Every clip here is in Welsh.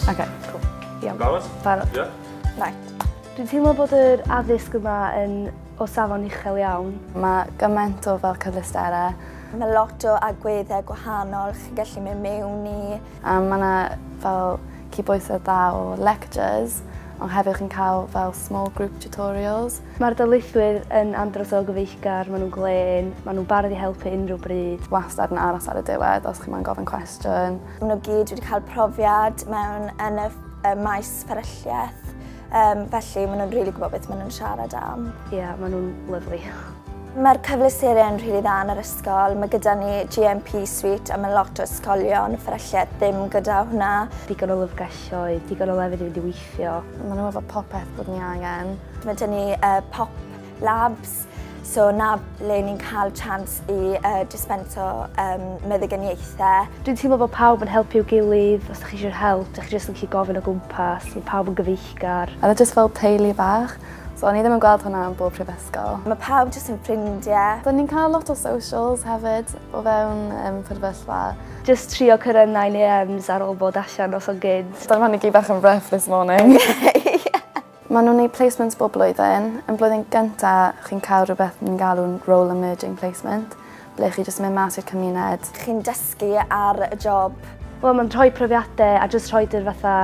Okay, cool. Iawn. Barod? Barod. Ie. Yeah. Right. Dwi'n teimlo bod yr addysg yma yn o safon uchel iawn. Mae gymaint o fel cyfleusterau. Mae lot o agweddau gwahanol chi'n gallu mynd mewn i. Yym mae 'na fel cydbwysedd dda o lectures ond hefyd chi'n cael fel small group tutorials. Mae'r darlithwyr yn andros o gyfeillgar, maen nhw'n glên, maen nhw'n barod i helpu unrhyw bryd. Wastad yn aros ar y diwedd os chi moyn gofyn cwestiwn. Maen nhw gyd wedi cael profiad mewn yn y maes fferylliaeth. Um, felly, maen nhw'n rili really gwybod beth maen nhw'n siarad am. Ie, yeah, maen nhw'n lyflu. Mae'r cyfleusterau yn rili really dda yn yr ysgol. Mae gyda ni GMP Suite a mae lot o ysgolion fferylliad ddim gyda hwnna. Digon o lyfrgelloedd, digon o lefydd i fynd i weithio. Maen nhw'n efo popeth bod ni angen. Mae gen ni uh, pop Labs, so 'na le ni'n cael chance i uh, dispenso um, meddyginiaethau. Dwi'n teimlo bod pawb yn helpu'w gilydd, os ydych chi eisiau help, ydych chi jyst yn gallu gofyn o gwmpas, mae pawb yn gyfeillgar. A jyst fel teulu bach, so o'n i ddim yn gweld hwnna yn bob prifysgol. Mae pawb jyst yn ffrindiau. Da ni'n cael lot o socials hefyd o fewn um, prifysgol. Just trio cyrraedd 9am ar ôl bod allan os o'n gyd. Da ni gyd bach yn rough this morning. Maen nhw'n neud placements bob blwyddyn. Yn blwyddyn gynta chi'n cael rhywbeth ni'n galw'n role emerging placement ble chi jyst yn mynd mas i'r cymuned. Chi'n dysgu ar y job. Wel mae'n rhoi profiadau a jyst rhoid yr fatha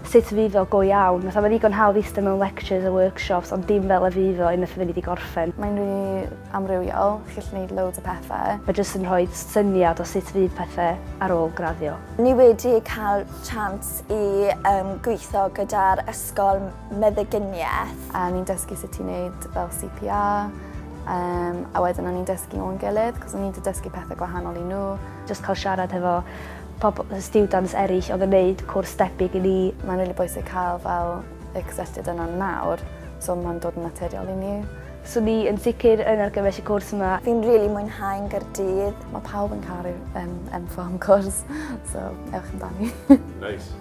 sut fydd iddo go iawn. Fatha mae'n ddigon hawdd iste mewn lectures a workshops ond dim fel y fydd o unwaith fyddi di gorffen. Mae'n rili amrywiol, chi'n gallu neud loads o pethe. Mae jyst yn rhoi syniad o sut fydd pethe ar ôl graddio. Ni wedi cael chance i gweithio gyda'r Ysgol Meddyginiaeth. A o'n i'n dysgu sut i wneud fel CPR, um, a wedyn o'n i'n dysgu nhw'n gilydd, cos o'n i'n dysgu pethau gwahanol i nhw. Just cael siarad hefo pobl, students eraill oedd yn gwneud cwrs debyg i ni. Mae'n really bwysig cael fel y cysylltiad yna nawr, so mae'n dod yn naturiol i ni. So ni yn sicr yn argymell y cwrs yma. Fi'n rili really mwynhau yn Gyrdydd. Mae pawb yn caru um, enfo am cwrs, so ewch amdani. nice.